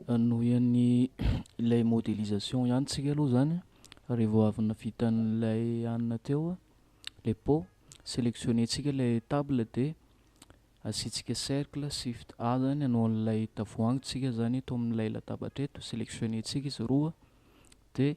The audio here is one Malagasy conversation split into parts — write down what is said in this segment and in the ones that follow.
Hanohy an'i ilay modélisation ihany tsika aloha zany a, revô avy navita an'ilay hanina teo a, le pot, sélectionner tsika le table de asiantsika cercle shift A zany hanao an'ilay tavoahangy tsika zany eto am'ilay latabatra eto, sélectionner tsika izy roa de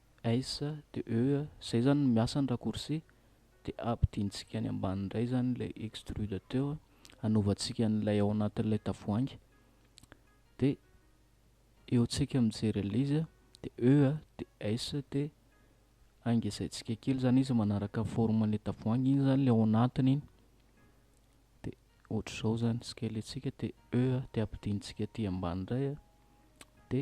Ais de eux zay zany no miasa ny raccourci de ampidintsika any ambany indray zany ilay extrude teo hanovantsika an'ilay ao anatin'ilay tavoahangy de eo tsika mijery an'ilay izy de eux de ais de angezaintsika kely zany izy manaraka forme an'ilay tavoahangy iny zany ilay ao anatiny iny de ohatr'izao zany scale antsika de eux de ampidintsika aty ambany indray de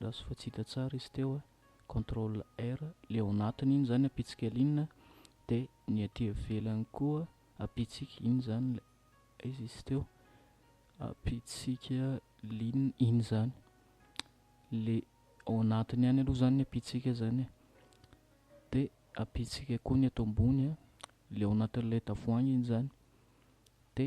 Lasa fa tsy hita tsara izy teo a! Control R, le ao anatiny iny zany apitsika alinina de ny aty ivelany koa apitsika iny zany le aiza izy teo apitsika lin iny zany le ao anatiny ihany aloha zany ny apitsika zany e! de apitsika koa ny ato ambony a! le ao anatin'ilay tavoahangy iny zany de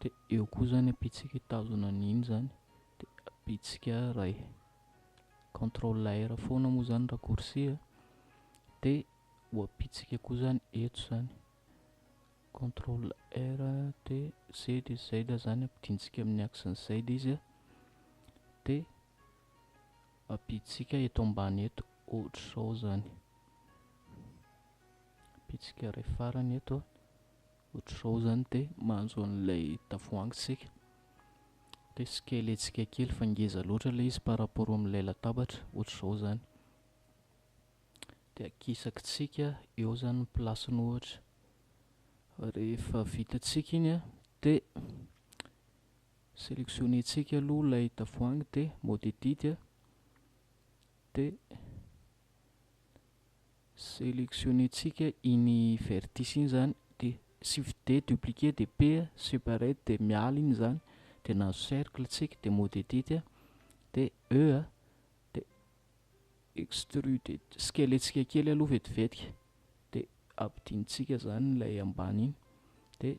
De eo koa zany a bitsika hitazona an'iny zany de bitsika ray control R foana moa zany raccourci a de ho abitsika koa zany eto zany control R de Z de Z zany ampidintsika amin'ny axe ny Z izy a de abitsika eto ambany eto ohatr'izao zany bitsika ray farany eto a Ohatr'izao izany dia manjo an'ilay tavoahangy isika, dia asiaka ilay hetsika kely fa ngeza loatra ilay izy par rapport amin'ilay latabatra, ohatr'izao izany. Dia akisakintsika eo izany ny place-ny ohatra. Rehefa vitantsika iny an, dia selectionner-ntsika aloha ilay tavoahangy dia mode edit dia Seleksionentsika iny vertice iny izany dia shift D dupliquer dia P separate dia miala iny izany dia nahazo cercle tsika dia mode edit a dia E a dia extrude scale tsika kely aloha vetivetika dia ampidintsika izany ilay ambany iny dia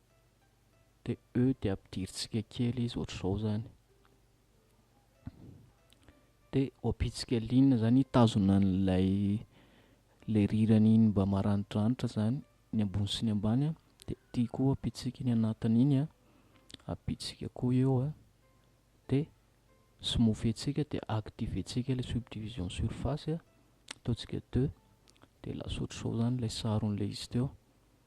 dia e dia ampidirintsika kely izy ohatr'izao zany dia ho ampitsika ligne zany hitazona an'ilay le rirany iny mba maranidranitra zany ny ambony sy ny ambany a dia ity koa ampitsika ny anatiny iny a ampitsika koa eo a dia smofentsika dia activentsika ilay subdivision surface a ataontsika deux dia lasa ohatr'izao zany ilay saron'ilay izy teo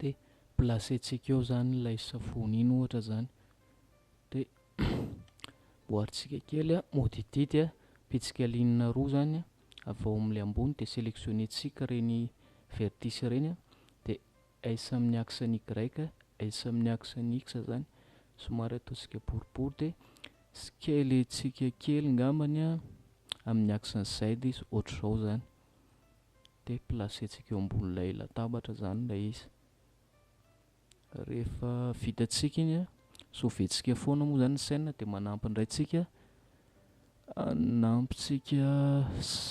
de placer-tsika eo zany ilay savony iny ohatra zany de boaritsika kely a modidity a pitsika linina roa zany a avy ao amin'ilay ambony de selectionner-tsika reny vertice reny a de S amin'ny axe ny Y S amin'ny axe ny X zany somary ataontsika boribory de scale-tsika kely ngambany a amin'ny axe ny Z izy ohatr'izao zany dia placer-tsika eo ambonin'ilay latabatra izany ilay izy. Rehefa vitantsika iny an, sauver-tsika foana moa izany ny scène dia manampy indray tsika hanampintsika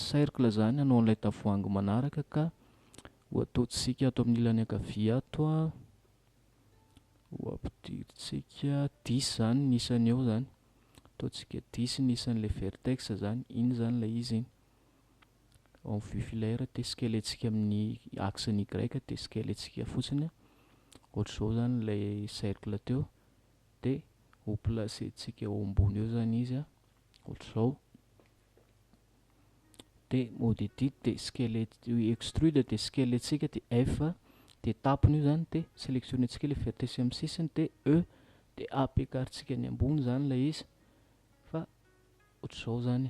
cercle izany hanao an'ilay tavoahangy manaraka ka ho ataontsika ato amin'ny ilany ankavia ato an, ho ampidirintsika dix izany ny isany eo izany, ataontsika dix ny isan'ilay vertex izany, iny izany ilay izy iny. en vue filaire test kely antsika amin'ny axe ny y test kely antsika fotsiny ohatr'izao zany ilay cercle teo de ho place tsika eo ambony eo zany izy a ohatr'izao de mode edit de scale extrude de scale antsika de f de tapony io zany de sélectionne antsika ilay vertesse amin'ny sisiny de e de apk tsika ny ambony zany ilay izy fa ohatr'izao zany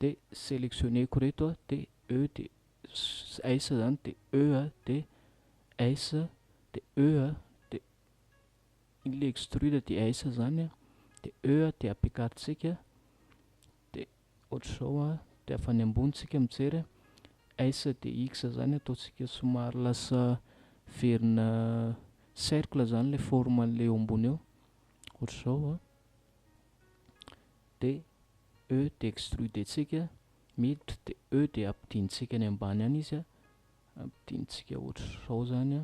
de selectionner-ko reto a, de E de S zany de E a, de S de E a, de ilay extrude de S zany a, de E a de apiakarintsika, de ohatr'izao a, de avy any ambony tsika mijery a, S de X zany ataontsika somary lasa verina cercle zany ilay forme an'ilay eo ambony eo, ohatr'izao a. dia E dia extrudentsika miditra dia E dia ampidintsika any ambany any izy ampidintsika ohatr'izao zany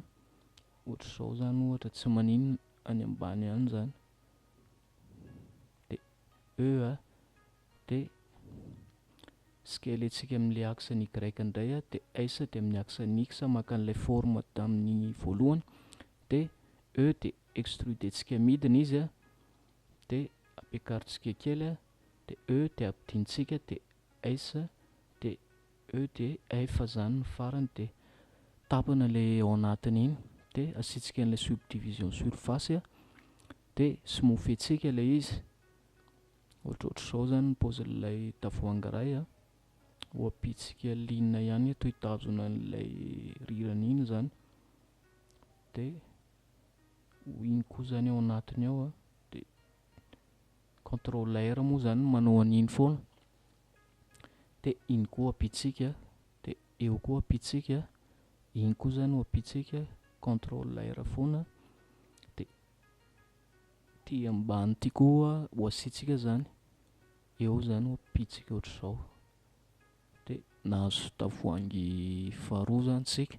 ohatr'izao zany ohatra tsy maninona any ambany any zany dia E a dia skeletsika amin'le axe ny Y indray a dia S dia amin'ny axe ny X maka an'ilay forme tamin'ny voalohany dia E dia extrudentsika midina izy a D Ampiakarintsika kely a D E dia ampidintsika D S D E D F izany ny farany dia tapany ilay ao anatiny iny D asiantsika an'ilay subdivision surface a D somofiantsika ilay izy ohatrohatr'izao izany ny paozin'ilay tavoahangy iray a ho ampitsika lina ihany eto hitazona an'ilay rirany iny izany D ho iny koa zany ao anatiny ao a de contrôleur moa zany manao an'iny foana de iny koa ampitsika de eo koa ampitsika iny koa zany ho ampitsika contrôleur foana de ty ambany ty koa ho asitsika zany eo zany ho ampitsika ohatr'izao de nahazo tavoahangy faharoa zany tsika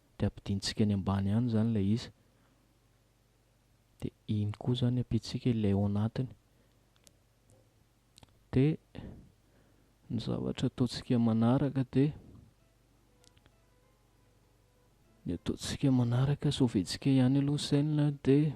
dia ampidintsika any ambany any izany ilay izy dia iny koa izany ampiantsika ilay ao anatiny dia ny zavatra ataontsika manaraka dia ny ataontsika manaraka soventsika ihany aloha ny sainina dia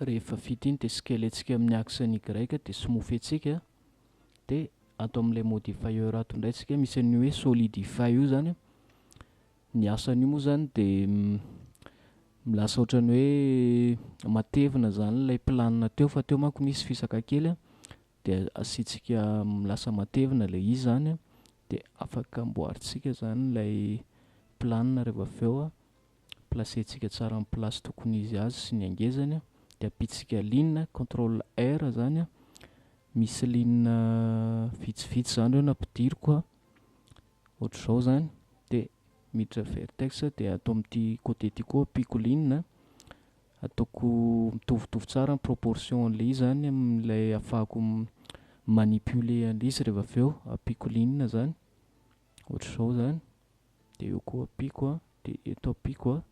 Rehefa vita iny dia skeletsika amin'ny axe ny y dia smoothetsika dia ato amin'ilay modifier ato indray tsika misy an'io hoe solidify io zany ny asan'io moa zany dia lasa ohatrany hoe matevina zany ilay planina teo fa teo manko nisy fisaka kely an dia asiantsika lasa matevina ilay izy zany an dia afaka amboarintsika zany ilay planina rehefa avy eo an placer-tsika tsara amin'ny place tokony izy azy sy ny hangezany dia ampitsika ligne control R zany a misy ligne vitsivitsy zany reo nampidiriko a ohatr'izao zany dia miditra vertex dia ato amin'ity côté ty koa ampiko ligne ataoko mitovitovy tsara ny proportion an'ilay izy zany amin'ilay afahako manipuler an'ilay izy rehefa avy eo ampiko ligne zany ohatr'izao zany dia eo koa ampiako a, dia eto ampiako a,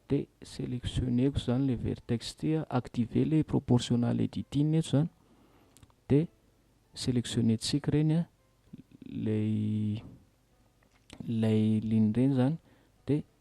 dia selectionner-ko izany ilay vertex ity a, activer ilay proportional editing eto izany, dia selectionner-tsika ireny a, ilay ilay ligne ireny izany, dia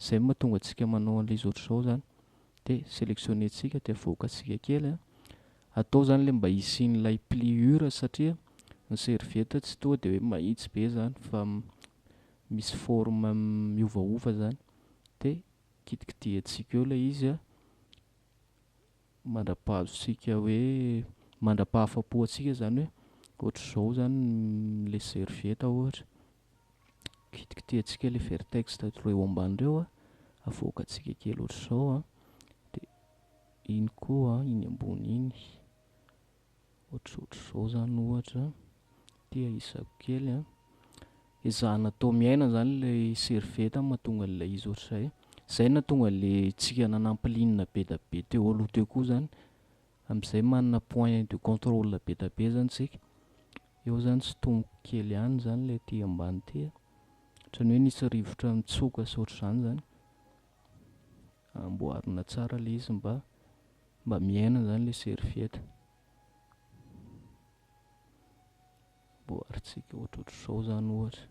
Izay no mahatonga antsika manao an'ilay izy ohatr'izao izany. Dia selectionner-tsika dia avoakantsika kely. Atao izany ilay mba hisian'ilay pliure satria ny serviette tsy toa dia hoe mahitsy be izany fa misy forme miovaova izany. Dia kitikitihantsika eo ilay izy mandra-pahazontsika hoe, mandra-pahafapo antsika izany hoe ohatr'izao izany ilay serviette ohatra. kitikitihantsika ilay vertex ireo eo ambany ireo an, avoakantsika kely ohatr'izao an, dia iny koa iny ambony iny ohatrohatr'izao izany ohatra, ity ahisako kely an, ezahana atao miaina izany ilay servieta mahatonga an'ilay izy ohatr'izay, izay nahatonga an'ilay tsika nanampilinina be dia be teo aloha teo koa izany. Amzay manana point de contrôle be da be zany tsika, eo zany tsy tomoko kely ihany zany ilay aty ambany aty a, otrany hoe nisy rivotra nitsoka sy otrzany zany, amboarina tsara le izy mba mba miaina zany le serviette, amboaritsika ohatrohatr'izao zany ohatra.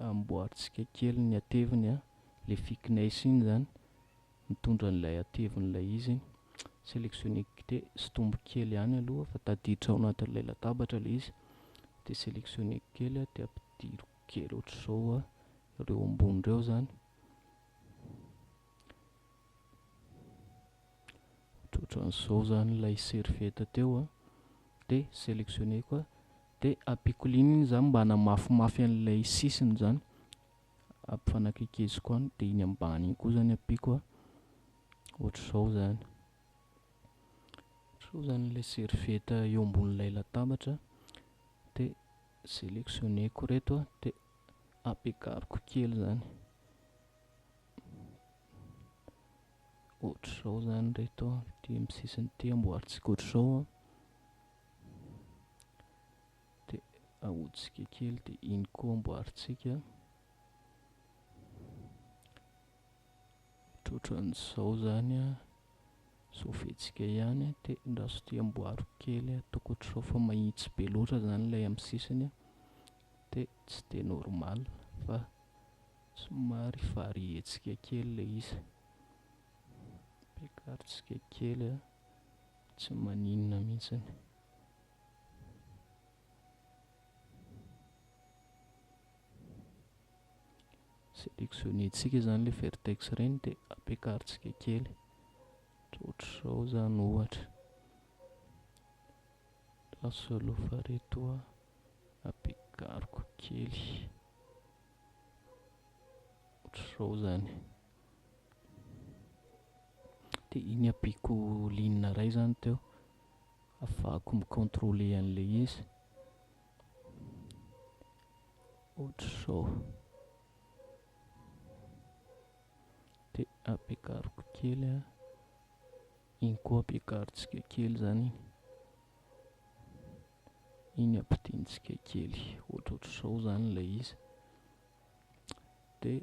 amboarintsika kely ny hateviny a, le thickness iny zany mitondra an'ilay hatevin'ilay izy iny, selectionner de sintomiko kely ihany aloha fa tadiditra ao anatin'ilay latabatra le izy, de selectionner-ko kely a de ampidiriko kely ohatr'izao a, reo ambony reo zany, ohatrohatran'izao zany ilay serviette teo a, de selectionner-ko a. De apikolino iny zany mba hanamafimafy an'ilay sisiny zany, ampifanakekeziko any de iny ambany iny koa zany ampiko a, ohatr'izao zany, ohatr'izao zany ilay serviette eo ambonin'ilay latabatra de selectionneko reto a de ampiakariko kely zany, ohatr'izao zany reto a, ity amin'ny sisiny ity amboarintsika ohatr'izao a. dia ahotsika kely dia iny koa amboarintsika ohatran'izao zany a sofentsika ihany a dia raha so tia amboaro kely ataoko ohatr'izao fa mahitsy be loatra zany ilay amin'ny sisiny a dia tsy dia normal fa somary varientsika kely ilay izy ampiakarintsika kely a Tsy maninona mihitsiny. Selectionner-tsika izany ilay vertex ireny dia ampiakarintsika kely. Ohatr'izao izany ohatra. Lasa alofa reto a. Ampiakariko kely. Ohatr'izao izany. Dia iny ampiako ligne iray izany teo, hahafahako mi-contrôler an'ilay izy. Ohatr'izao. Dia ampiakariko kely an. Iny koa ampiakarintsika kely izany iny. Iny ampidirintsika kely, ohatrohatr'izao izany ilay izy. Dia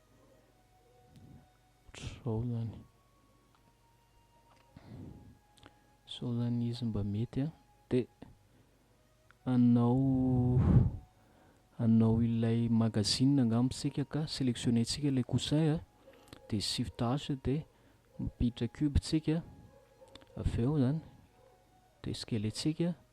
Ohatr'izao zany. Zao zany izy mba mety a. Dia anao anao ilay magazine angamba isika ka sélectionner-tsika ilay coussin a. Dia shift H dia mampiditra cube tsika avy eo zany. Dia scaler-tsika.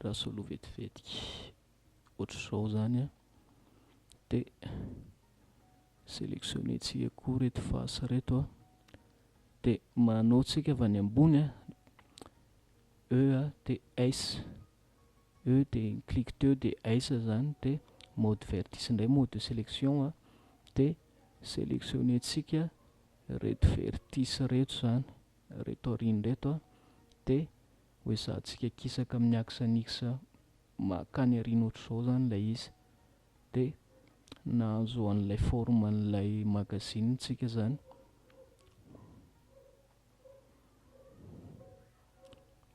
raha solo vetivety ohatr'izao zany an, de selectionner tsika koa reto face reto an, de manao tsika avy any ambony an, E a de S, E de clique teo de S zany de mode vertice indray mode de selection an, de selectionner tsika reto vertice reto zany. reto aoriany reto dia hoezahantsika kisaka amin'ny axe annexe makany aoriana ohatr'izao izany ilay izy dia nahazo an'ilay forme an'ilay magazine tsika izany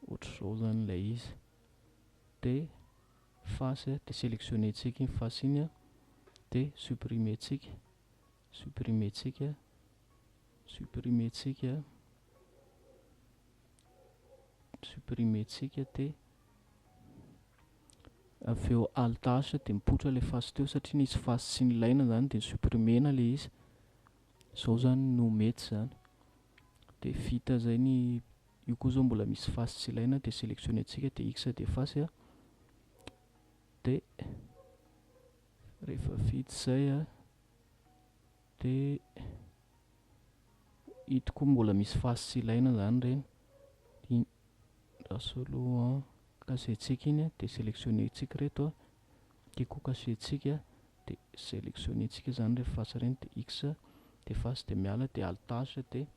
ohatr'izao izany ilay izy dia face dia sélectionner tsika iny face iny dia supprimer tsika Supprimer tsika, supprimer tsika, supprimer tsika te. Avy eo alt H dia mipoitra ilay face teo satria nisy face tsy nilaina izany dia supprimer-na ilay izy. Izao izany no mety izany. Dia vita izay ny io koa izao mbola misy face tsy ilaina dia sélectionner tsika dia X dia face a. Dia rehefa vita izay a. Dia ito koa mbola misy fasy tsy ilaina izany ireny. Dia asolo an casier-tsika iny dia sélectionner-tsika ireto. Ity koa casier-tsika dia sélectionner-tsika izany ireny fasy ireny dia X dia fasy dia miala dia alt H dia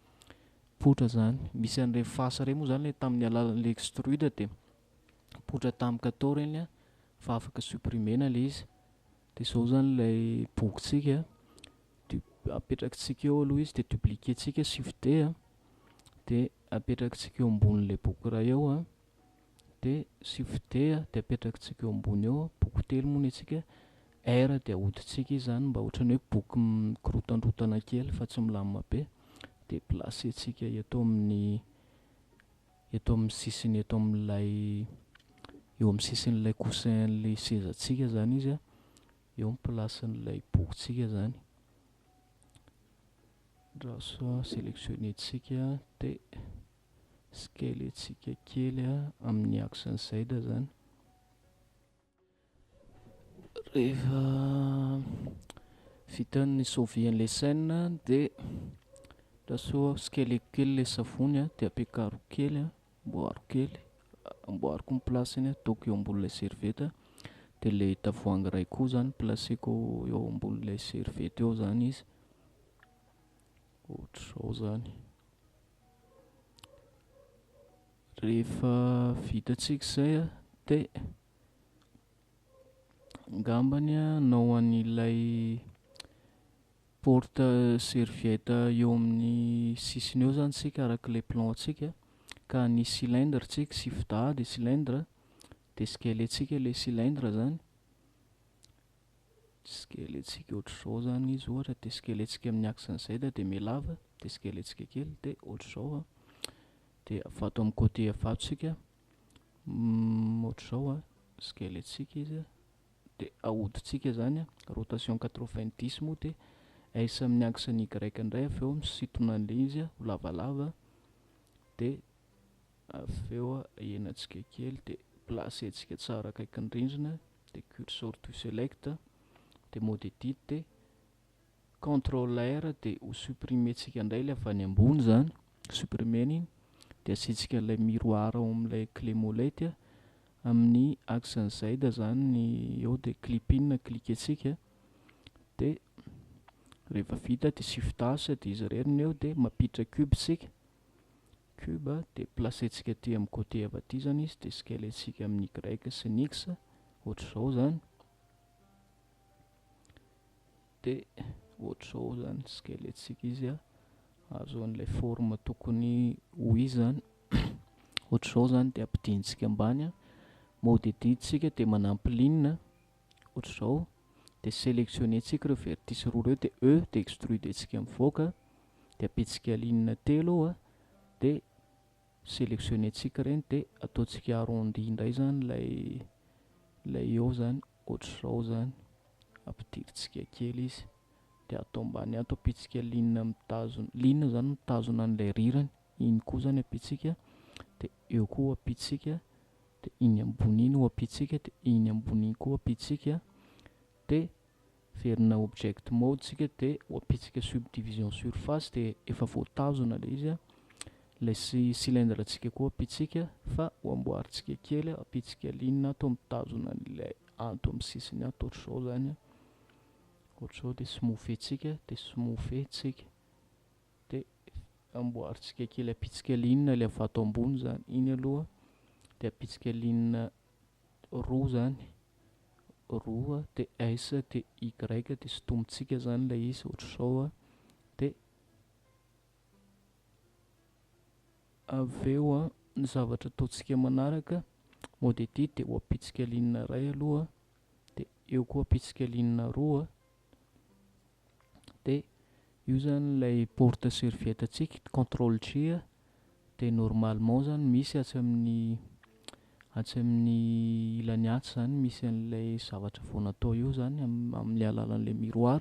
poitra izany. Misy an'ireny fasy ireny moa izany ilay tamin'ny alalan'ilay extrude dia poitra tamin'ny kato ireny fa afaka supprimer-na ilay izy. Dia izao izany ilay bokintsika, du- apetrakintsika eo aloha izy dia dupliquer-ntsika shift D a, dia apetrakintsika eo ambonin'ilay boky iray eo a, dia shift D a dia apetrakintsika eo ambony eo, boky telo moa ny antsika, R dia ahodintsika izy izany mba ohatran'ny hoe boky mikorontandrontana kely fa tsy milamina be, dia placer-ntsika eto amin'ny eto amin'ny sisiny eto amin'ilay eo amin'ny sisin'ilay coussin an'ilay sezantsika zany izy a, eo ny place-n'ilay bokintsika zany, raso a, selectionner-tsika dia scale-tsika kely a amin'ny axe-n'i Zaida zany. Rehefa vita ny sovy an'ilay scène dia andraso tsikelikely kely ilay savony dia ampiakaro kely an, amboaro kely, amboariko ny place-ny, ataoko eo ambonin'ilay serviette, dia ilay tavoahangy iray koa zany placeko eo ambonin'ilay serviette eo zany izy, ohatr'izao zany. Rehefa vitantsika izay an, dia angambany hanao an'ilay porte serviette eo amin'ny sisiny eo izany isika araka ilay plan-tsika, ka hanisy cylindre isika sy fda dia cylindre, dia sgel-ntsika ilay cylindre izany, sgel-ntsika ohatr'izao izany izy ohatra, dia sgel-ntsika amin'ny axe-n'i z dia mihalava, dia sgel-ntsika kely dia ohatr'izao an. Dia vato amin'ny côté vato isika, ohatr'izao squelettsika izy, dia ahodintsika izany, rotation quatre vingt dix moa dia S amin'ny axe ny Y indray avy eo misintona an'ilay izy ho lavalava, dia avy eo ahenantsika kely dia placentsika tsara akaikin'ny rindrina, dia cursor to select, dia mode edit, dia controller dia ho supprimer tsika indray ilay avy any ambony izany supprimer iny dia asiantsika ilay miroir ao amin'ilay clé molette amin'ny axe ny zaid izany ny eo dia clip in na cliquer tsika dia rehefa vita dia shift as dia izy irery ny eo dia mampiditra cube tsika cube dia placer tsika aty amin'ny côté avy aty izany izy dia scaler tsika amin'ny y sy ny x ohatr'izao izany dia ohatr'izao zany squelettsika izy a, azo an'ilay forme tokony ho izy zany ohatr'izao zany dia ampidintsika ambany a, mody ety tsika dia manampy ligne ohatr'izao dia selectionner tsika ireo vertice roa ireo dia E dia extruder tsika mivoaka dia ampitsika ligne telo eo a dia selectionner tsika ireny dia ataontsika arrondi indray zany ilay ilay eo zany. Ohatr'izao izany, ampidirintsika kely izy dia ato ambany ato ampiantsika ligne mitazona, ligne izany mitazona an'ilay rirany, iny koa izany ampiantsika dia eo koa ampiantsika dia iny ambony iny ho ampiantsika dia iny ambony iny koa ampiantsika dia verina object mode tsika dia ho ampiantsika subdivision surface dia efa voatazona ilay izy a Ilay sy cylindre tsika koa ampitsika fa ho amboarintsika kely a, ampitsika ligne ato mitazona an'ilay ato amin'ny sisiny ato ohatr'izao zany a, ohatr'izao dia smoothetsika dia smoothetsika dia amboarintsika kely ampitsika ligne ilay vato ambony zany iny aloha dia ampitsika ligne roa zany roa dia S dia Y dia sotomintsika zany ilay izy ohatr'izao a dia Avy eo an, ny zavatra ataontsika manaraka, modety dia ho ampitsika ligne iray aloha, dia eo koa ampitsika ligne roa, dia io zany ilay porte serviette antsika, control G, dia normalement zany misy atsy amin'ny atsy amin'ny ilany atsy zany misy an'ilay zavatra vao natao eo zany amin'ny alalan'ilay miroir,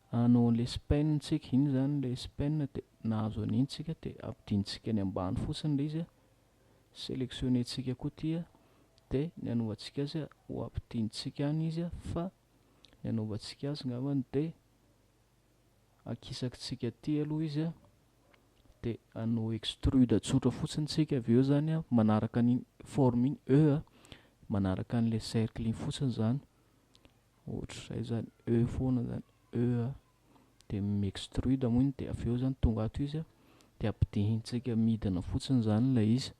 Anao an'ilay spin tsika iny izany ilay spin dia nahazo an'iny tsika dia ampidintsika any ambany fotsiny ilay izy, selectionner tsika koa ity dia ny anaovantsika azy ho ampidintsika any izy fa ny anaovantsika azy ngambany dia akisakitsika aty aloha izy a dia anao extrude tsotra fotsiny tsika avy eo zany a manaraka ny forme iny e a manaraka an'ilay cercle iny fotsiny zany Ohatr'izay izany, e foana izany, e a. Dia mi-extrude moa iny dia avy eo izany tonga ato izy a, dia ampidirintsika midina fotsiny izany ilay izy.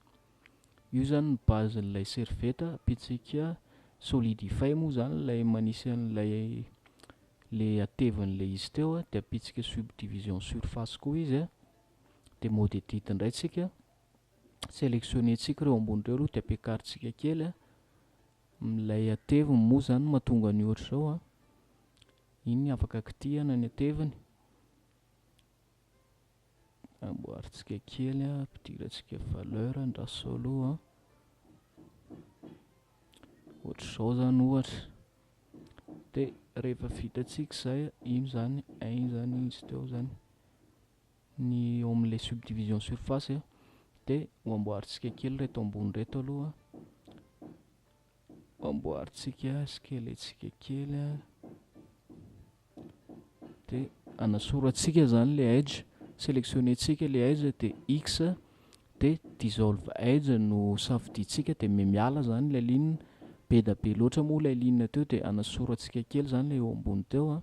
Io izany ny base-n'ilay serviette ampiantsika solidify moa izany ilay manisy an'ilay ilay hatevin'ilay izy teo a, dia ampiantsika subdivision surface koa izy a, dia mode edit indray isika, selectionner-ntsika ireo ambony ireo aloha dia ampiakarintsika kely a, Milay ateviny moa zany matonga ny ohatr'izao an! Iny afaka kitihana ny ateviny. Amboarintsika kely an, ampidirantsika valeur ny rasolo an. Ohatr'izao zany ohatra. Dia rehefa vitantsika izay, iny zany, iny zany izy teo zany. ny ao amin'ilay subdivision surface dia ho amboarintsika kely reto ambony reto aloha ho amboarintsika skeletsika kely a dia anasorantsika zany le edge sélectionnentsika le edge dia x dia dissolve edge no safidintsika dia miala zany ilay ligne be da be loatra moa ilay ligne teo dia anasorantsika kely zany le eo ambony teo a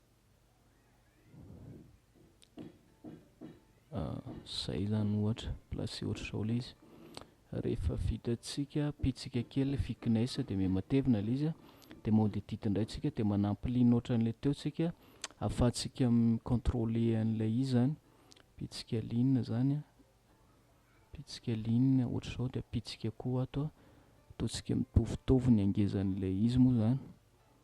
Zay zany ohatra, placé ohatr'izao ilay izy, rehefa vitantsika pitsika kely ilay thickness dia miha matevina ilay izy, dia mode edit indray tsika dia manampy ligne ohatran'ilay teo tsika ahafahantsika mi-contrôler an'ilay izy zany, pitsika ligne zany an, pitsika ligne ohatr'izao dia pitsika koa ato an, ataontsika mitovitovy ny hangezan'ilay izy moa zany.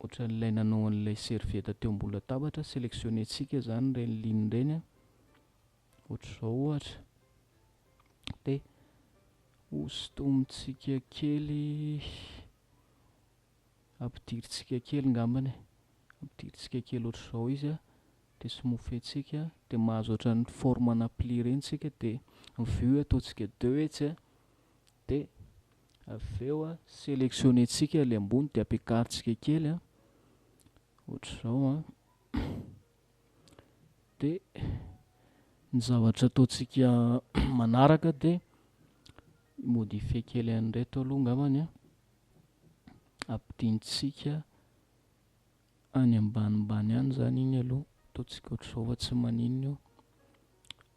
Ohatran'ilay nanao an'ilay serviette teo ambony latabatra, selectionner-tsika zany ireny ligne ireny a. Ohatr'izao ohatra. Dia hosintomintsika kely, ampidirintsika kely ngambany e. Ampidirintsika kely ohatr'izao izy a. Dia somofentsika, dia mahazo ohatran'ny forme-na pli ireny tsika, dia ny vue ataontsika deux etsy a. Dia Avy eo a, selectionner-tsika ilay ambony dia ampiakarintsika kely a, ohatr'izao a. Dia ny zavatra ataontsika manaraka dia modifier kely an'ireto aloha angambany a. Ampidintsika any ambanimbany any izany iny aloha, ataontsika ohatr'izao fa tsy maninona io.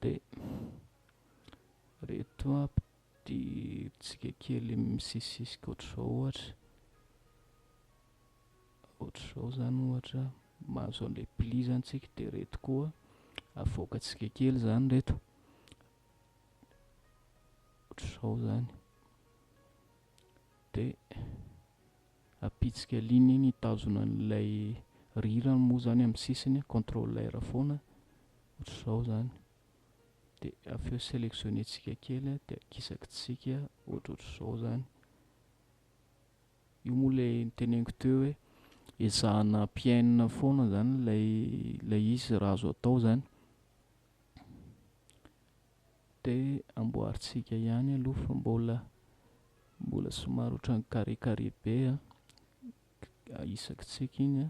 Dia ireto ampitsika kely misisisika ohatr'izao ohatra, ohatr'izao izany ohatra mahazo an'ilay pli izany tsika dia ireto koa avoakantsika kely izany ireto ohatr'izao izany dia apitsika ligne iny hitazona an'ilay rirany moa zany amin'ny sisiny contrôle R foana ohatr'izao zany dia avy eo sélectionner tsika kely dia akisaky tsika ohatrohatr'izao zany io moa ilay niteneniko teo hoe ezahana ampiainina foana zany ilay ilay izy raha azo atao zany Dia amboarintsika ihany aloha fa mbola mbola somary ohatran'ny carré carré be a, isaky tsiky iny a,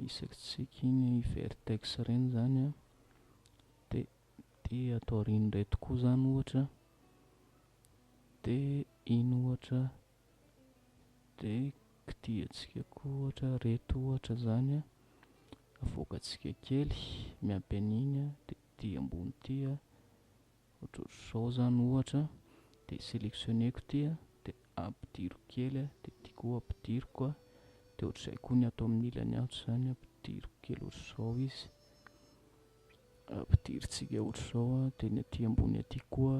isaky tsiky iny vertex ireny izany a, dia ity ato aoriana ireto koa izany ohatra, dia iny ohatra, dia kitihantsika koa ohatra ireto ohatra izany a, avoakantsika kely miampy an'iny a, dia ety ambony ety a, ohatrohatr'izao zany ohatra, de selectionner-ko ity a, de ampidiriko kely a, de ity koa ampidiriko a, de ohatr'izay koa ny ato amin'ny ilany ato izany ampidiriko kely ohatr'izao izy, ampidirintsika ohatr'izao a, de ny aty ambony aty koa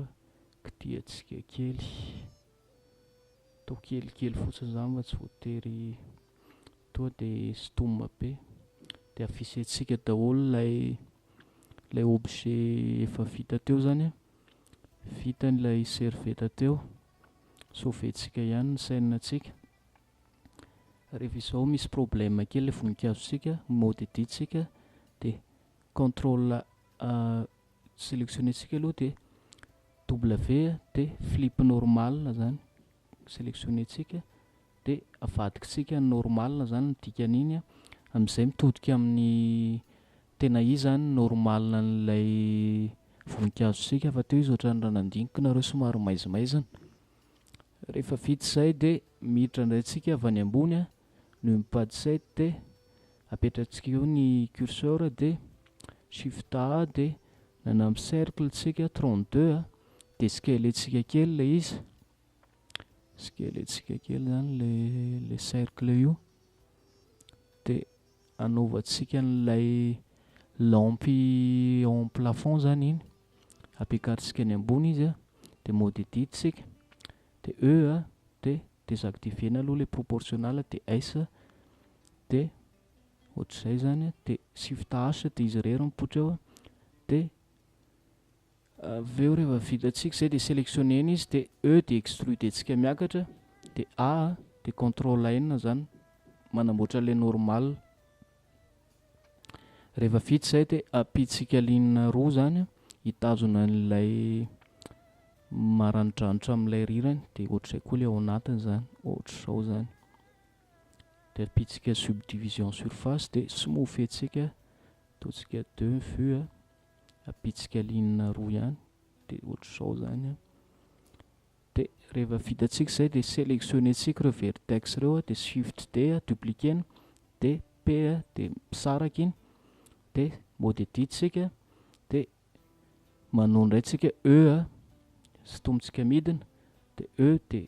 kitihantsika kely, atao kelikely fotsiny izany fa tsy voatery toa de sintomina be, de afisentsika daholo ilay ilay objet efa vita teo zany a, vita ilay serviette teo, sauver-tsika ihany ny scène-tsika, rehefa izao misy problème kely ilay voninkazotsika, mode edit-tsika dia control a, selectionner-tsika aloha dia W dia flip normal zany. selectionner-tsika dia avadikitsika normal zany ny dikan'iny a, amin'izay mitodika amin'ny tena izy zany ny normal an'ilay voninkazontsika fa teo izy ohatran'ny raha nandiniko nareo somary maizimaizina, rehefa vita izay dia miditra indray tsika avy any ambony a, noho ny page set dia apetratsika eo ny curseur dia shift A dia nanampy cercle tsika 32 a, de skelentsika kely ilay izy, skelentsika kely zany le le cercle io, de anaovantsika an'ilay lampe en plafond zany iny, ampiakarintsika any ambony izy an, de mode edit isika, de E a, de desactiver-na aloha ilay proportional de S a, de ohatr'izay zany an, de shift H de izy irery mipoitra eo an, de. Avy eo rehefa vitantsika izay dia selectionner-na izy dia E dia extruder-tsika miakatra dia A dia control N izany manamboatra ilay normal. Rehefa vita izay dia ampiantsika ligne roa izany a, hitazona an'ilay maranidranitra amin'ilay rirany dia ohatr'izay koa ilay ao anatiny izany, ohatr'izao izany. Dia ampiantsika subdivision surface dia smooth-ntsika, ataontsika deux vues a. ampitsikaliana roa ihany dia ohatr'izao izany an dia rehefa vita tsika izay dia sélectionner tsika ireo vertex ireo dia shift D dupliquer-na dia P dia misaraka iny dia mode edit tsika dia manao indray tsika E a sintomintsika midina dia E dia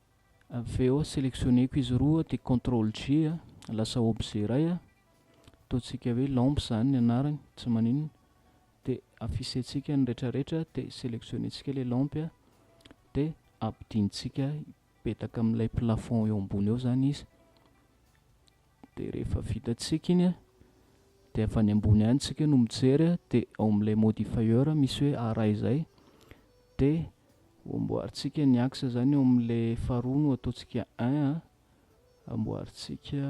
Avy eo selectionner-ko izy roa dia contrôle G a, lasa objet iray a, ataontsika hoe lampe izany ny anarany, tsy maninona, dia afficher-tsika ny retraretra dia selectionner-tsika ilay lampe a, dia ampidintsika hipetaka amin'ilay plafond eo ambony eo izany izy, dia rehefa vita tsika iny a dia avy any ambony any tsika no mijery a dia ao amin'ilay modifier misy hoe ara izay dia amboarintsika ny axe zany ao amin'ilay faharoa no ataontsika un a amboarintsika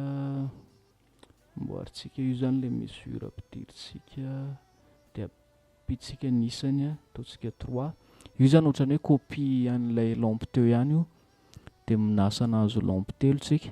amboarintsika io zany ilay mesure ampidirintsika dia ampitsika ny isany a ataontsika trois io zany ohatran'ny hoe copie an'ilay lampe teo ihany io dia minasana azo lampe telo tsika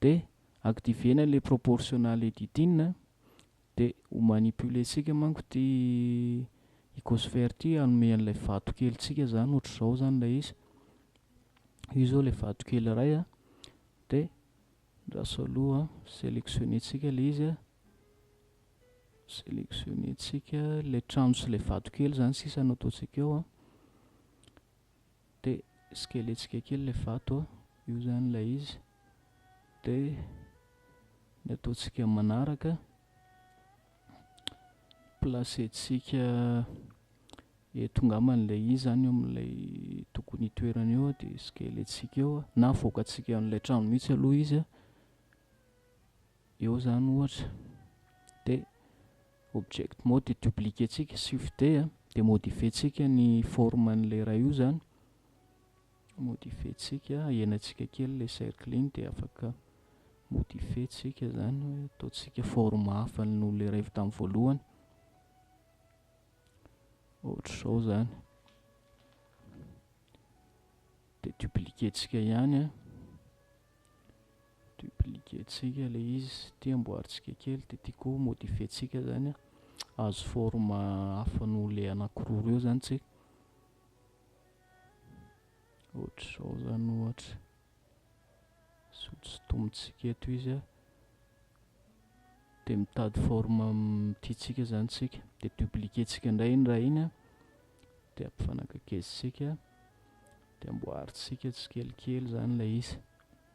dia activer-na ilay proportional editing a, dia ho manipuler-tsika manko ity icosphere ity hanome an'ilay vato kelintsika izany ohatr'izao izany ilay izy, io izao ilay vato kely iray a, dia andraso aloha an, selectionner-tsika ilay izy a, selectionner-tsika ilay trano sy ilay vato kely izany sisa no ataontsika eo an. Dia sikeletsika kely ilay vato a, io izany ilay izy. Dia ny ataontsika manaraka, placer-tsika eto ngambany ilay izy izany eo amin'ilay tokony hitoerany eo dia sikeletsika eo a, na avoakantsika an'ilay trano mihitsy aloha izy a, eo izany ohatra. Dia. Object mode dia dupliquer-tsika swift D a, dia modifier-tsika ny forme an'ilay iray io izany, modifier-tsika, ahenan-tsika kely ilay cercle iny dia afaka modifier-tsika izany hoe ataontsika forme hafa noho ilay iray avy tamin'ny voalohany, ohatr'izao izany, dia dupliquer-tsika ihany an, Dupliquer-tsika ilay izy, ity amboarintsika kely, dia ity koa modifier-tsika izany an, hahazo forme hafa noho ilay anankiroa ireo izany isika. Ohatr'izao izany ohatra, sotosotomintsika eto izy an, dia mitady forme tiantsika izany isika, dia dupliquer-tsika indray iny raha iny an, dia ampifanakaikezitsika, dia amboarintsika tsikelikely izany ilay izy.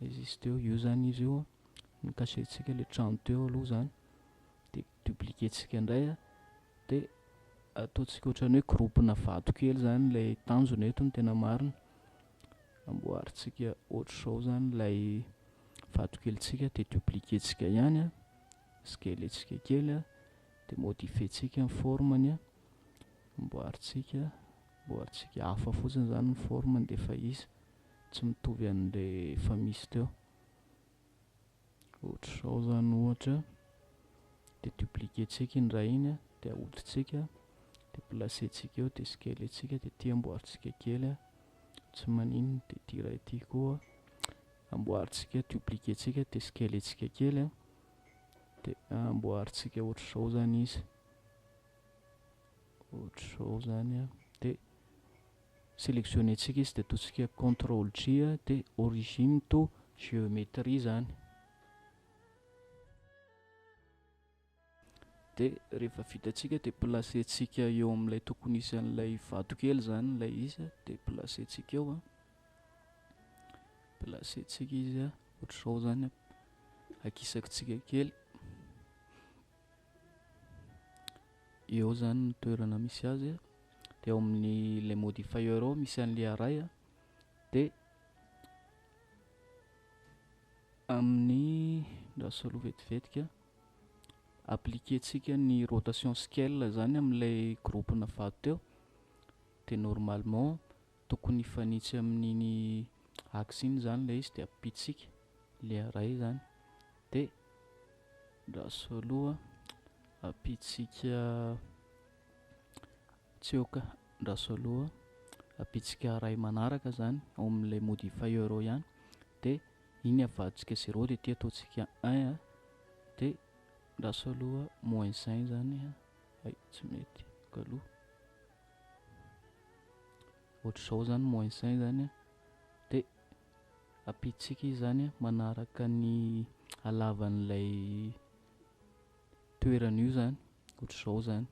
Existe eo, eo zany izy io no cacher-tsika le trano teo aloha zany de dupliquer-tsika ndray a, de ataontsika ohatrany hoe groupe-na vato kely zany le tanjona eto ny tena marina, amboarintsika ohatr'izao zany lay vato kelintsika de dupliquer-tsika ihany a, sgelentsika kely a, de modifier-tsika ny forme-ny a, amboarintsika, amboarintsika hafa fotsiny zany ny forme-ny de efa izy. tsy mitovy an'ilay efa misy teo. Ohatr'izao izany ohatra, dia dupliquer-tsika iny raha iny, dia ahotritsika, dia placer-tsika eo, dia scaler-tsika, dia ity amboarintsika kely, tsy maninona, dia ity iray ity koa amboarintsika, dupliquer-tsika, dia scaler-tsika kely, dia amboarintsika ohatr'izao izany izy, ohatr'izao izany dia Sélectionner-tsika izy dia ataontsika contrôle G dia origine to géométrie izany. Dia rehefa vitantsika dia placer-tsika eo amin'ilay tokony hisy an'ilay vato kely izany ilay izy dia placer-tsika eo. Placer-tsika izy ohatr'izao izany, akisakitsika kely. eo zany ny toerana misy azy de ao amin'ny le modifier ao misy an'le aray a de amin'ny ndra solo vetivetika appliquer tsika ny rotation scale zany amin'ilay groupe-na fahateo de normalement Tokony hifanitsy amin'iny axe iny izany ilay izy dia ampitsika ilay iray izany dia andraso aloha ampitsika tsioka andraso aloha ampitsika iray manaraka izany ao amin'ilay modifier euro ihany dia iny avadintsika zéro dia ity ataontsika un a dia andraso aloha moins un izany hay tsy mety kaloha ohatr'izao zany moins un zany a, de ampidintsika izy zany a manaraka ny halavan'ilay toerana io zany, ohatr'izao zany,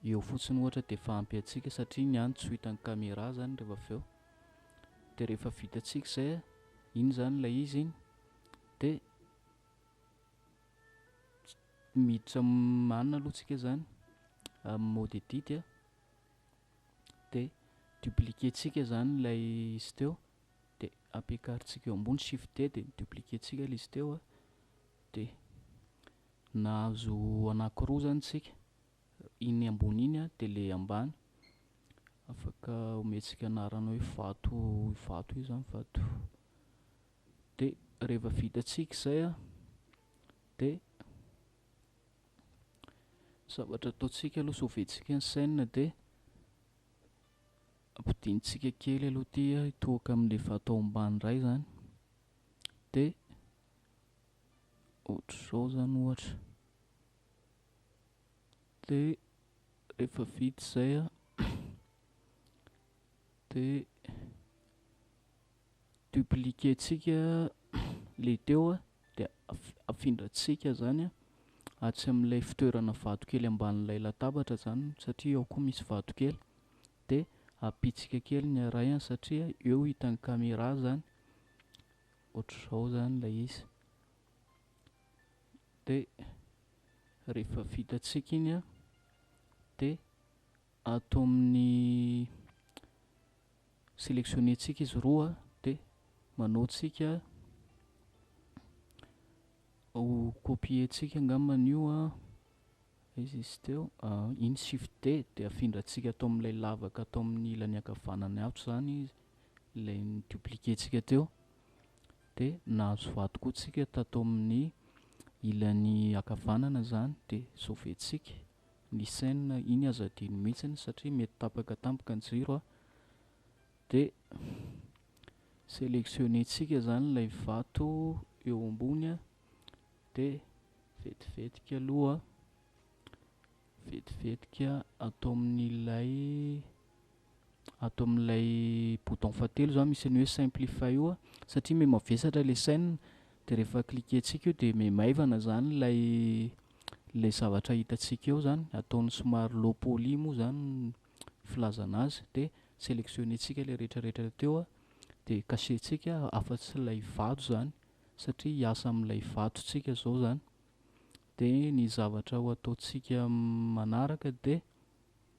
eo fotsiny ohatra dia efa ampy antsika satria ny any tsy ho hitan'ny caméra zany rehefa avy eo, de rehefa vitantsika izay a, iny zany ilay izy iny de. miditra manina aloha tsika zany amin'ny mot de didy a, de dupliquer-tsika zany ilay izy teo de ampiakarintsika eo ambony shift D de dupliquer-tsika ilay izy teo a, de nahazo anankiroa zany tsika, iny ambony iny a de le ambany, afaka omentsika anarana hoe vato vato io zany vato de rehefa vitantsika izay a de zavatra ataontsika aloha soventsika ny chaîne de ampidintsika kely aloha ty a hitohaka amin'le vato ao ambany indray zany de ohatr'izao zany ohatra de rehefa vita izay a de dupliquer tsika le teo a dia afindra tsika zany atsy amin'ilay fitoerana vato kely ambanin'ilay latabatra zany satria ao koa misy vato kely de apitsika kely ny araiany satria eo hitan'ny caméra zany ohatr'izao zany ilay izy de rehefa vita tsika iny a de ato amin'ny sélectionner tsika izy roa dia manao tsika ho copier tsika angamba an'io a izy izy teo iny shift d dia afindra tsika atao amin'ilay lavaka atao amin'ny ilany ankavanany ato zany izy ilay ny dupliquer tsika teo dia nahazo vato koa tsika tato amin'ny ilany akavanana zany dia sauver tsika ny chaine iny aza adino mihitsiny satria mety tapaka tampoka ny jiro a, dia selectionner-tsika zany ilay vato eo ambony a, dia vetivetika aloha vetivetika ato amin'ilay. ato amin'ilay bouton fahatelo izany misy an'io hoe simplify io satria me mavesatra ilay scène dia rehefa cliquer-tsika io dia me maivana izany ilay ilay zavatra hitantsika eo izany ataony somary low poly moa izany ny filazana azy dia selectionner-tsika ilay rehetrarehetra teo dia cacher-tsika afa-tsy ilay vato izany satria hiasa amin'ilay vato tsika izao izany dia ny zavatra ho ataontsika manaraka dia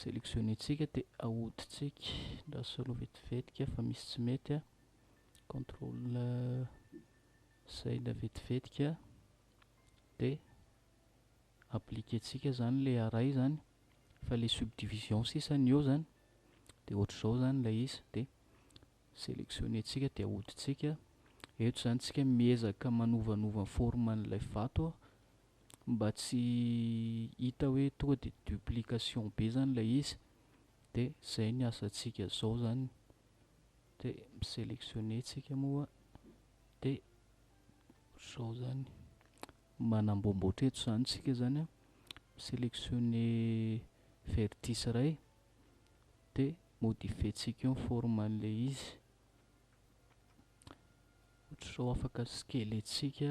selectionner-tsika dia ahodintsika ndra solo vetivetika fa misy tsy mety a contrôle zay ndra vetivetika dia appliquer-tsika zany le array zany fa le subdivision sisa ny eo zany dia ohatr'izao zany ilay izy dia selectionner-tsika dia ahodintsika eto zany tsika miezaka manovanova ny forme an'ilay vato mba tsy hita hoe tonga de duplication be zany ilay izy de zay ny asantsika zao zany de mi selectionner tsika moa de zao zany manamboamboatra eto zany tsika zany a selectionner vertice iray de modifier tsika eo ny forme an'ilay izy ohatr'izao afaka skeletsika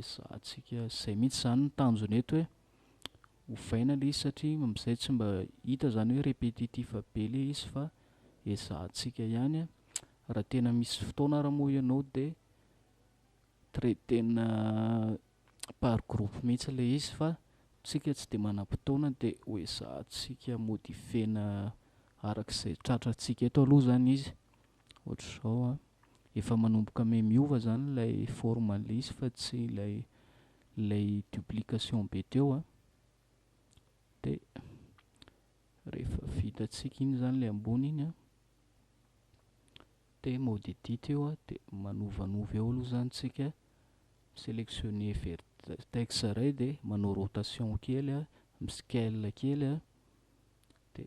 Ezahantsika izay mihitsy izany ny tanjona eto hoe ovaina ilay izy satria amin'izay tsy mba hita izany hoe répétitif be ilay izy fa ezahantsika ihany a, raha tena misy fotoana ary moa ianao dia traiter-na par groupe mihitsy ilay izy fa isika tsy dia manam-potoana dia ho ezahantsika modifier-na araka izay tratrantsika eto aloha izany izy. ohatr'izao an, efa manomboka me miova zany ilay forme lisy fa tsy ilay ilay duplication be teo an, dia rehefa vitantsika iny zany ilay ambony iny an, dia mode edit eo an, dia manovanova eo aloha zany tsika, mi-selectionner vertex iray dia manao rotation kely an, mi-scale kely an, dia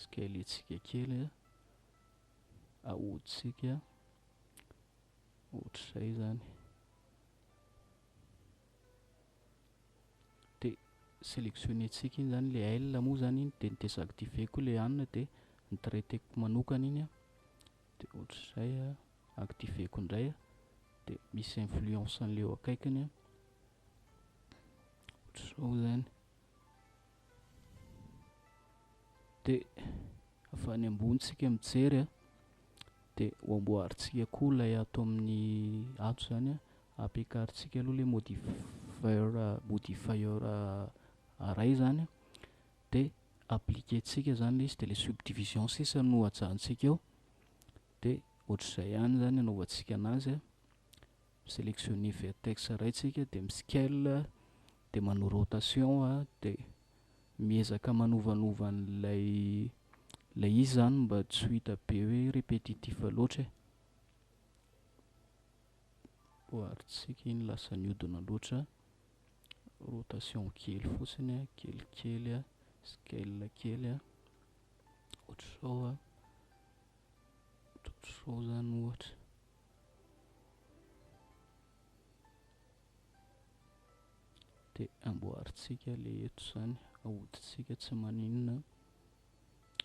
Skeletsika kely ahodintsika ohatr'izay izany. Dia sélectionner-tsika iny izany ilay aile moa izany iny, dia ny désactiver koa ilay anona, dia ny traiter-ko manokana iny, dia ohatr'izay activer-ko indray, dia misy influence an'ilay eo akaikiny, ohatr'izao izany. dia avy any ambony tsika mijery a dia ho amboarintsika koa ilay ato amin'ny ato zany a ampiakarintsika aloha ilay modifier modifier iray zany a dia appliquer-tsika zany ilay izy dia ilay subdivision sisa no ajanontsika eo dia ohatr'izay ihany zany anaovantsika an'azy a Mi-selectionner vertex iray tsika dia mi-scale dia manao rotation dia miezaka manovanova an'ilay ilay izy zany mba tsy ho hita be hoe repetitif loatra e. Oharintsika iny lasa nihodina loatra, rotation kely fotsiny a, kelikely a, scale kely a, ohatr'izao a, ohatr'izao zany ohatra. Dia amboarintsika ilay eto izany, ahodintsika tsy maninona.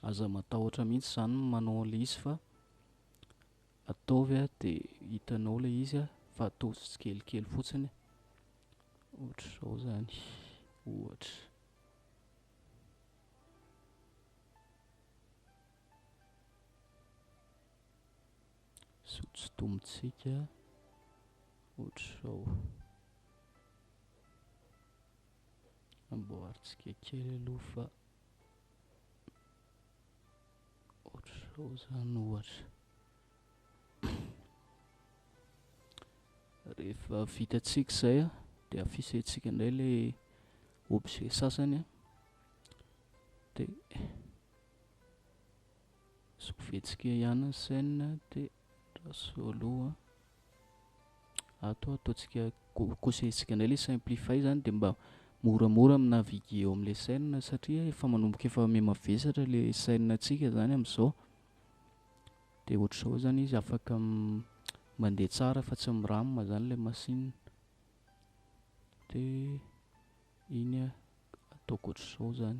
Aza matahotra mihitsy izany ny manao an'ilay izy fa ataovy dia hitanao ilay izy fa ataovy tsikelikely fotsiny ohatr'izao izany ohatra. sao tsy tombontsika ohatr'izao. Amboarintsika kely aloha fa ohatr'izao izany ohatra. Rehefa vitantsika izay a, dia afisentsika indray ilay objet sasany a, dia. Sovietsky ihany ny scène de ndra solo a! Ato ataontsika kosehitsika indray le simplify zany de mba moramora mi naviguer eo amle scène satria efa manomboka efa mihamavesatra le scène tsika zany amzao de ohatr'izao zany izy afaka mandeha tsara fa tsy mi ram zany le machine de iny ataoko ohatr'izao zany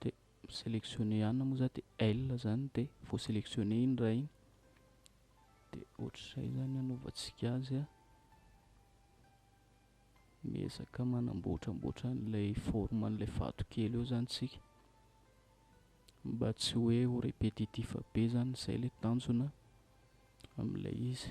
de mi-selectionner ihany moa za dia elle zany dia voaselectionner iny raha iny dia ohatr'izay zany anaovantsika azy a miezaka manamboatramboatra an'ilay forme an'ilay vatokely eo zany tsika mba tsy hoe ho répétitif be zany izay ilay tanjona amin'ilay izy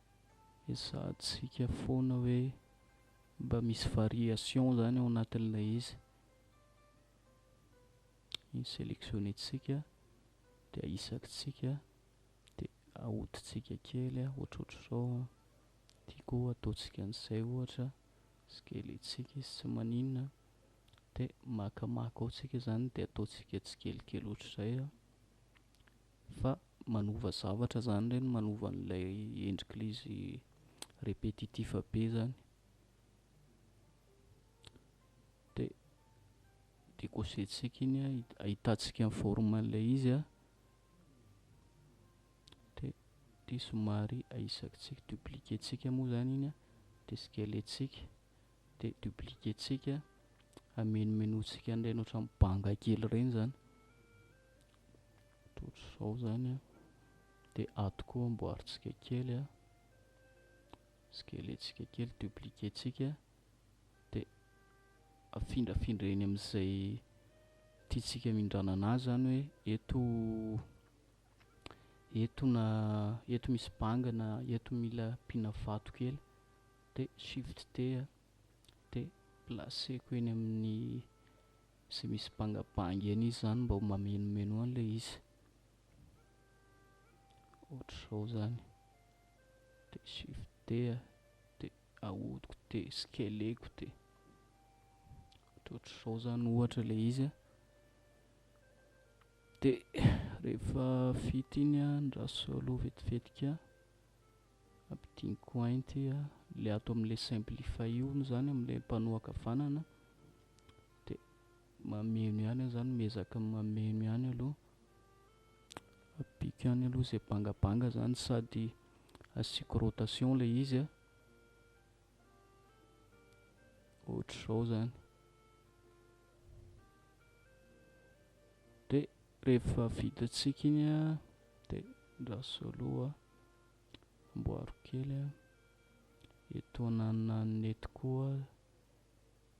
Ezahantsika foana hoe mba misy variation zany ao anatin'ilay izy. Iny selectionner-tsika dia ahisakitsika dia ahodintsika kely ohatrohatr'izao an, tiako ataontsika an'izay ohatra, tsikelentsika izy tsy maninona dia maka maka ao tsika zany dia ataontsika tsikelikely ohatr'izay an. Fa manova zavatra zany reny manova an'ilay endrik'ilay izy repetitif be zany de de kosehintsika iny an ahitantsika ny forme an'ilay izy an de de somary ahisakitsika dupliquer tsika moa zany iny an de scaler tsika dia dupliquer-tsika, hamenomenontsika an'ireny ohatran'ny banga kely ireny izany, dia ohatr'izao izany, dia ato koa amboarintsika kely, skelentsika kely, dupliquer-tsika, dia afindrafindra eny amin'izay tiantsika hamindranana azy izany hoe eto eto na eto misy banga na eto mila ampiana vato kely de shift D a, de placer-ko eny amin'ny izay misy bangabanga eny izy zany mba ho mameno-meno any le izy, ohatr'izao zany, de shift D a, de ahodiko de scaler-ko de ohatrohatr'izao zany ohatra le izy a, de rehefa vita iny a andraso aloha vetivetika. Ampidiniko ainty a, le ato amle simplify io moa zany amle mpanohaka vanana de mameno ihany aho zany, miezaka mameno ihany aloha, ampiko ihany aloha izay bangabanga zany sady asiako rotation le izy a, ohatr'izao zany. Dia rehefa vitantsika iny a dia andraso aloha. amboaro kely a, etoanana ny nety koa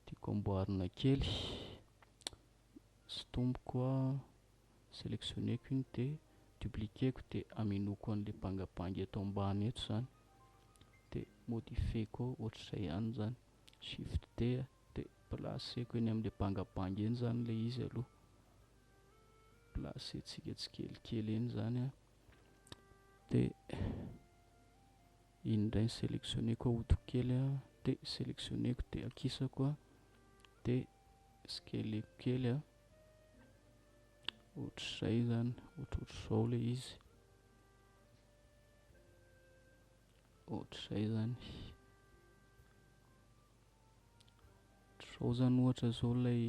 tiako amboarina kely, sintomiko a, selectionner-ko iny de dupliquer-ko de amenoako an'le bangabanga eto ambany eto zany de modifier-ko ohatr'izay ihany zany, shift D a, de placer-ko eny am'le bangabanga eny zany le izy aloha, placer-tsika tsikelikely eny zany a, dia iny indray ny sélectionné-ko ahodiko kely a dia sélectionné-ko dia akisako a dia skeleko kely a ohatr'izay zany ohatrohatr'izao ilay izy ohatr'izay zany ohatr'izao zany ohatra izao ilay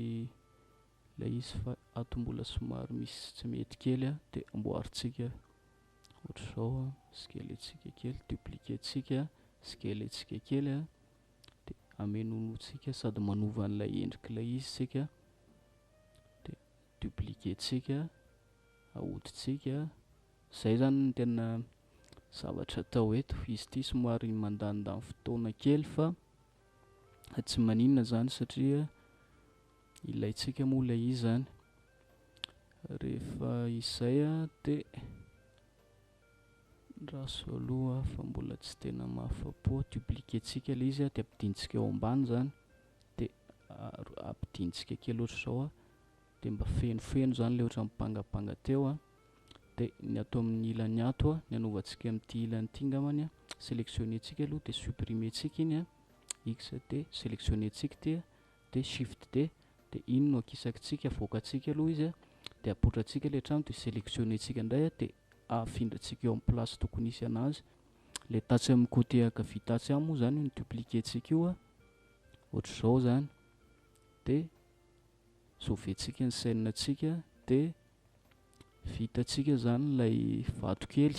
Ilay izy fa ato mbola somary misy tsy mety kely a, dia amboarintsika ohatr'izao a, skelentsika kely, dupliquer-tsika skelentsika kely a, dia amenonotsika sady manova an'ilay endrik'ilay izy isika, dia dupliquer-tsika, ahodintsika, izay zany no tena zavatra atao eto, izy ity somary mandanindany fotoana kely fa tsy maninona zany satria Ilaintsika moa ilay izy izany. Rehefa izay dia andraso aloha fa mbola tsy tena mahafa-po. Dupliquer-tsika ilay izy dia ampidintsika eo ambany izany, dia ampidintsika kely ohatr'izao dia mba fenofeno izany ilay ohatran'ny bangabanga teo, dia ny ato amin'ny ilany ato ny hanovantsika amin'ity ilany ity angambany, selectionner-tsika aloha dia supprimer-tsika iny, x dia selectionner-tsika ity. dia shift D dia iny no akisakintsika avoakantsika aloha izy dia apotrantsika ilay trano dia selectionner ntsika indray dia afindrantsika eo amin'ny place tokony hisy anazy ilay tatsy amin'ny côté ankavia tatsy any moa izany io ny dupliquer ntsika io ohatr'izao izany dia sauver ntsika ny scène ntsika dia vita ntsika izany ilay vato kely